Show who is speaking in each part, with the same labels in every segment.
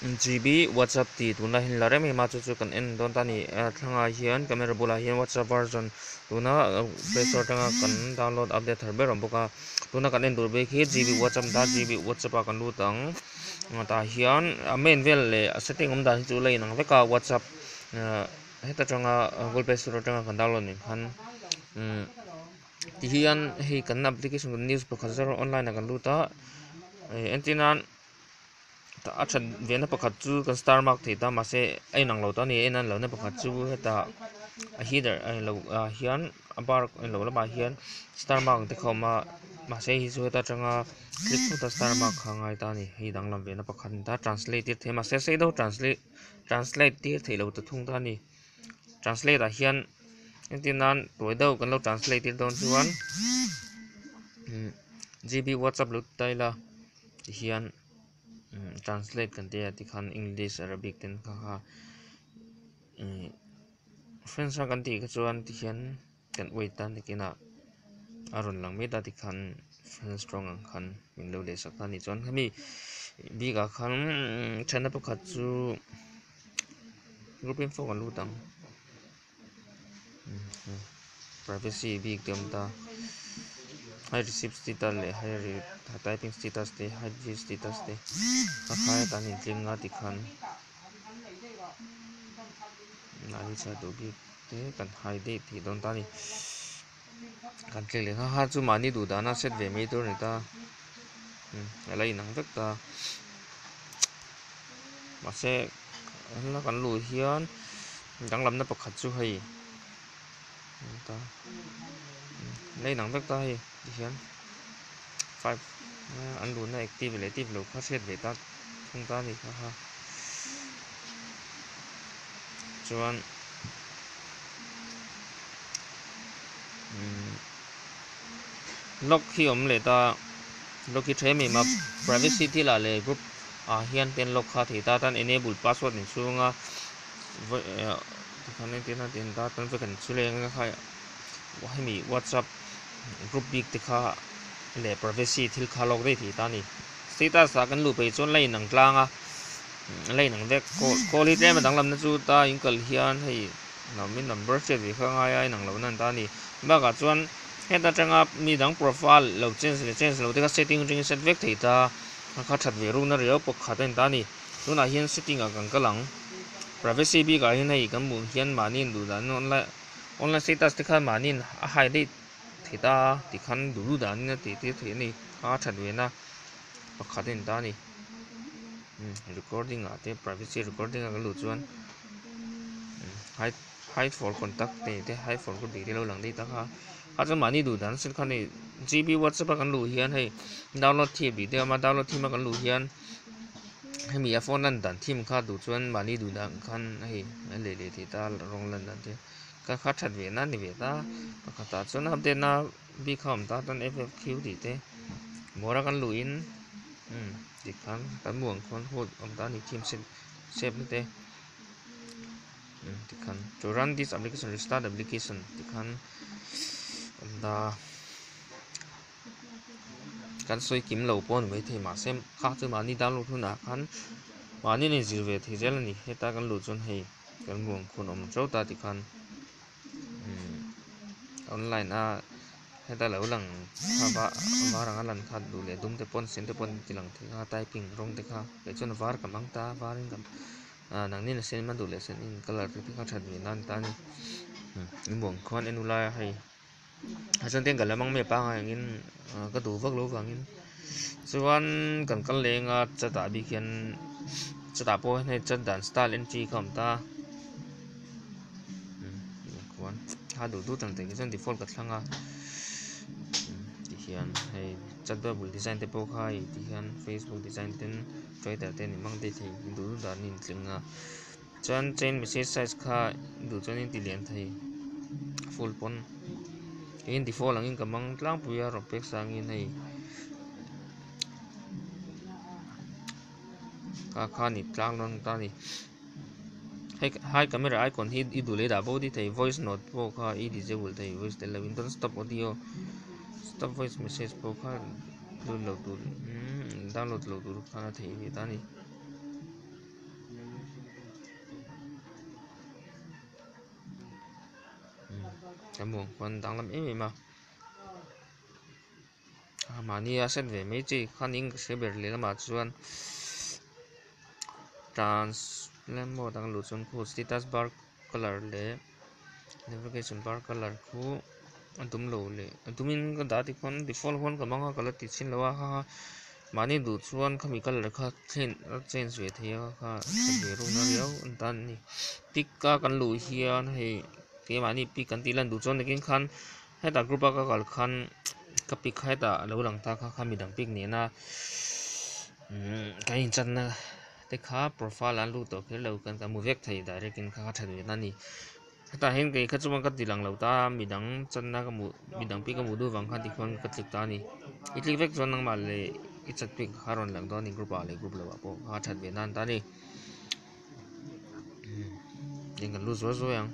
Speaker 1: GB WhatsApp tih tunla hin la rem em a chu chu kan en dawn ta ni a thlangah hian camera bulah hian WhatsApp version tuna play store atanga kan download update thar ber awm bawk a tuna kan en tur bik hi GB WhatsApp dah GB WhatsApp a kan lut ang tah hian a main vel leh a setting awm dan hi chu la in ang vek a WhatsApp heta tanga Google play store atanga kan download nih khan ti hian hei kan application news pakhat zar online a kan lut a entin a. a that vêlna pakhat chu kan star mark thei ta mahse a inang lo ta a ni a a inang lohna pakhat chu heta a heater a lo ah hian a bar a lo lamah hian star mark ang te kha a awm a mahse hei chu heta ṭanga click phûta star mark kha a ngai ta a ni hei danglam vêlna pakhat a ni ta translate tir thei mahse sei deuh translate translate tir thei lo ta thung ta a ni translate ah hian engtin nân tuai deuh kan lo translate tir dawn chuan imm G B WhatsApp lo ti ta ila. ti hian imm translate kan tia ti khan english arabic ten kha kha imm friends a kan tih kha chuan ti hian kan wait a ni kina a rawn lang miat a ti khan friends tawng ang khan min lo leh sak a ni chuan khami bik ah khan imm chhan na pakhat chu group info kan lut ang. Privacy bik te awm ta, height receipt status leh height typing status te height view status te kha khai atan in tling a tikhan an inchhah duh bik te kan hide tih dawn ta a ni. Kan thleng leh ngha khan chu mahni duh dahna set ve mai tur a ni ta. Umm a la inang vek ta. Mahse helai ah kan luh hian danglamna pakhat chu hei a ni ta. A la inang vek ta hei tihian. five an luhna active leh active lo kha hriat ve ta thung ta ni kha ha chuan hmm. log khi om le ta log khi thre mai ma privacy ti la le group a hian ten log kha thei ta tan enable password in chunga eh, kan tin tin ta tan ve kan chuleng kha hemi whatsapp group bik te kha leh privacy thil kha lawk daih theih ta a ni. Status ah kan luh pei chuan la inang tlang a, la inang vek call hi tlem a danglam na chu ta in kal hian hei min number hriat ve kha ngai a inang lo nan ta a ni. Bak ah chuan heta tanga mi dang profile lo change leh change lo te kha setting aṭangin set vek thei ta a, kha ṭhat ve ruk na riau pawk khat a ni ta a ni. Tunah hian setting ah kan kal ang privacy bik ah hian hei kan hmuh hian mahni in duh dan online. Online status te khan mahniin a highlight thei ta a, tikhan duhlu danin a tihtir theih a ni. A that vena pakhat a in ta a ni. Recording ah te privacy recording ah ka luh chuan hide for contact te hide for ka bik te lo lang daih tak a. A chuan mahni duh dan sin khan hei GB WhatsApp a kan luh hian hei download thim tih te a awm a, download thim a kan luh hian hemi a phone lan dan thim kha duh chuan mahni duh dan khan hei a leh leh theih ta a, rawng lan dan te kha kha that ve nan ni ve ta. Pakhatah chuan update na bik kha a awm ta chuan FFQ tih te bawra kan luhin umm tikhan kan hmu ang khawn hut awm ta a ni thim set sep na te. tikhan to run this application restart application tikhan kan da kan soi kim lo pawh ni mai thei mahse kha chu mahni download hunah khan mahni nei zir ve thei zel a ni heta kan luh chuan hei kan ruang khun awm tho ta tikhan online a heta lo lang hava var anga lan khat duh leh dum te pawn sen te pawn ti lang thei a typing rawng te kha kei chuan var kan hmang ta varin kan A nang nena sen ema duh leh sen in colour te kha that ni nan tan in in buang khuan en ulai a hei a chhan ten kan la mang mi apangai ang in ka duh vak lo vang in chuan kan kal leh anga chat ah bik hian chat ah pawh hei chat dan style entry kha awm ta buang khuan a duh dut ang takin chuan default ka thlang a tihian hei chat bubble design te pawh kha hei tihian facebook design ten Trader te nih mang date hi duh duh dan in tling a, chuan chain message size kha duh chuan in ti lian thei full pawn in default ang in ka mang tlang pui a rawh pek sang in hei ka kha ni tlang lawng ta ni hei hai camera icon hi i duh leh dah bo di thei voice note pawh kha i disable thei voice tel lo in don't stop audio stop voice message pawh kha Download lo tur umm download lo tur khan a thei a ni ta ni. Kan buang khuan dang lam em em a. A mahni a set ve mai chi khan in ka hre ber leh lamah chuan trans plan mode ang luh chuan khu status bar color leh-- Navigation bar colour chu a dum lo leh a dum in ka dah dik chuan default huan ka hmang a ka la ti chhin lo a ha ha mahni duh chuan khami colour kha change a change ve thei a kha ve rawh na riau a ni ta an ni pic a kan luh hian hei kei mahni pic kan tih lan duh chuan nakin khan hetah group a ka kalh khan ka pic kha hetah a lo lang ta kha kha midang pic nena umm kan in chat na. Heti kha profile an lut tawh kher lo, kan kan hmu vek thei direct in kha ka that ve ta a ni. Hetah hian kei kha chuan ka ti lang lo ta, midang channa ka hmuh, midang pi ka hmuh duh vang khan tikhon ka click ta a ni. I click vek chuan nangmah leh i chat pic kha a rawn lang dawn a ni group ah leh group lo ah pawh kha a that ve nan ta a ni. Heng kan lut zuai zuai ang,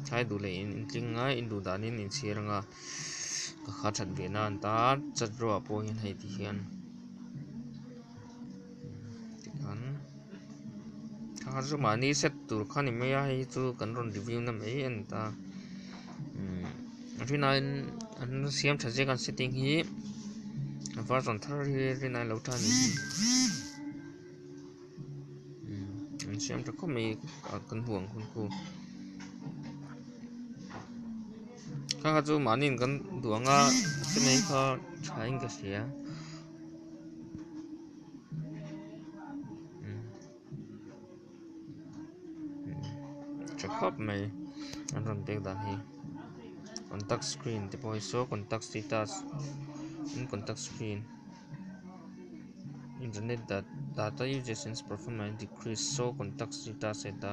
Speaker 1: thlai duh leh in intling a, induh danin in chhiar anga ka kha that ve nan ta, chat ropah pawh hian hei ti hian. an thla chu mahni set tur kha ni mai a hei hi chu kan rawn review na mai a ni ta umm a hrinah hian an siam tha ziak a an sitting hi a var chuang thar hi a hrinah hi a lo tha ni hi umm an siam tha khawp mai a kan hmuh ang hun chu kha kha chu mahni in kan duh ang a a sen a hi kha tha in ka hria. tha khawp mai an rawn bek dan hi contact screen te pawh hi saw contact status tin contact screen internet data data usages and performance decrease saw contact status heta.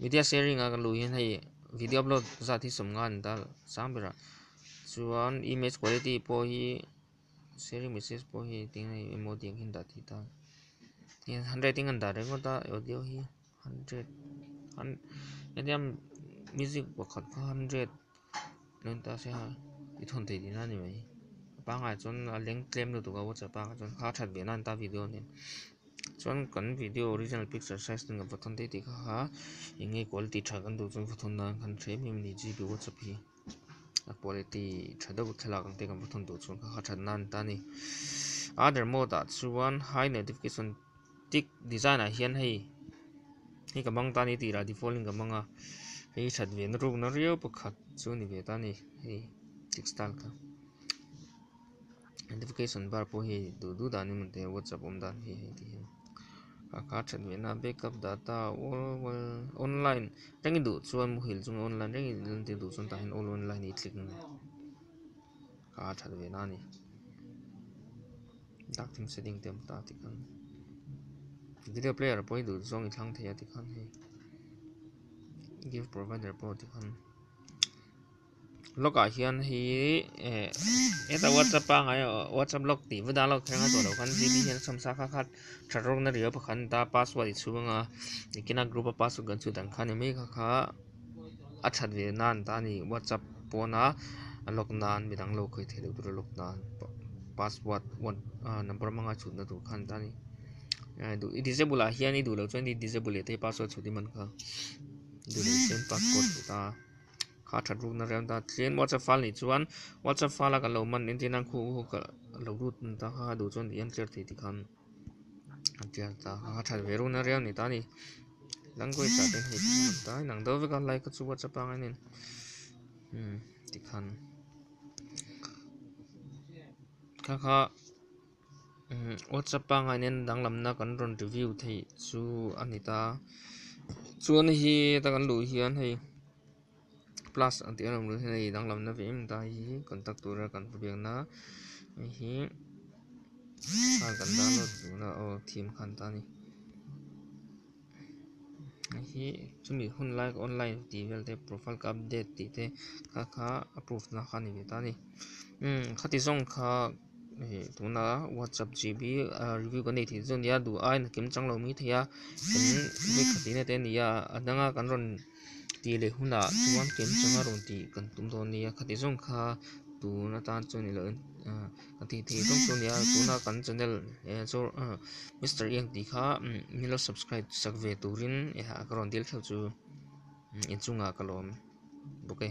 Speaker 1: Media sharing a kan luh hian hei video upload zat hi sawm nga a ni ta sang ber a chuan image quality pawh hi sharing message pawh hi eng emaw tih ang khin dah tih ta hei han rating a ni ta reng ngawt a audio hi. Hundred hun hetiang music pakhat kha hundred lawm ta se ha i thawn thei tihna ni mai a pangai chuan a leng tlem lutuk a whatsapp a chuan kha a that ve a nan ta video nen chuan kan video original picture size ten kan va thawn daih tih kha ha eng nge quality tha kan duh chuan va thawn dan khan hrem em ni gb whatsapp hi. a quality tha deuh thlalak ang ten kan va thun duh chuan kha kha that nan ta a ni other mode ah chuan high notification tik design ah hian hei hei ka hmang ta a ni tih rah default in ka hmang a hei hi that ve na ruk na riau pakhat chu a ni ve ta a ni hei tik style kha. notification bar pawh hei duh duh dan in hei whatsapp awm dan hi hei tihian ka ka that leh na backup data all world online reng i duh chuan muhil chunga online reng i lan tir duh chuan tah hian all online hi click ngei ka a that ve na a ni dark theme setting te awm ta tih khan video player pawh i duh zawng i thlang thei a tikhan hei give provider pawh tikhan. log ah hian hei hi eh heta whatsapp ah ngai whatsapp log tih va dan lawk thang a chawlh khan gp hian chhawmsal kha khat that rawng na riau pakhat an ta a password chhung a nikina group a password kan chhun dan kha ni mai kha kha a that ve nan an ta a ni whatsapp pawn a a log nan mi dang lo khawi thei lo tur a log nan password number a hmang a chhun na tur khan an ta a ni eh duh i disable ah hian i duh loh chuan i disable leh thei password chhun i man kha duh loh chuan password a chhun ta a. kha a that ruk na riau dat tlem whatsapp file nih chuan whatsapp file a kan lo manni an tih nan khu ka lo lut ta kha a duh chuan i entirh theih tih khan a tial ta kha a that ve ruk na riau a ni ta a ni language ah te hi a hman ta inang do vek a like a chu whatsapp pangai nen tih khan kha kha. WhatsApp pangai nen danglamna kan rawn review theih chu a ni ta chuan hi ta kan luh hian hei plus ang tih a rawn run hian hei danglamna ve em ta hi contact tura kan hmu biak na hei hi kan download tihna aw thim khan ta a ni. Heihi chumi hun lai online tih vel te profile ka update tih te kha kha a proof na kha a ni ta a ni umm khati zawng kha hei tuna whatsapp GB review kan neih theih chu a nia duh aia nakin chang lo mai thei a kan vek tha tihna te a ni a a dang a kan rawn-- Tih leh hunah chuan ken chang a rawn tih kan tum dawn a nia kha ti zawng kha tun atan chuan ni loh in kan tih theih zawng chu a nia tuna kan channel Mister Eng tih kha min lo subscribe chak ve turin ka rawn dil thlauh chu inchung ah ka lawm bawk e.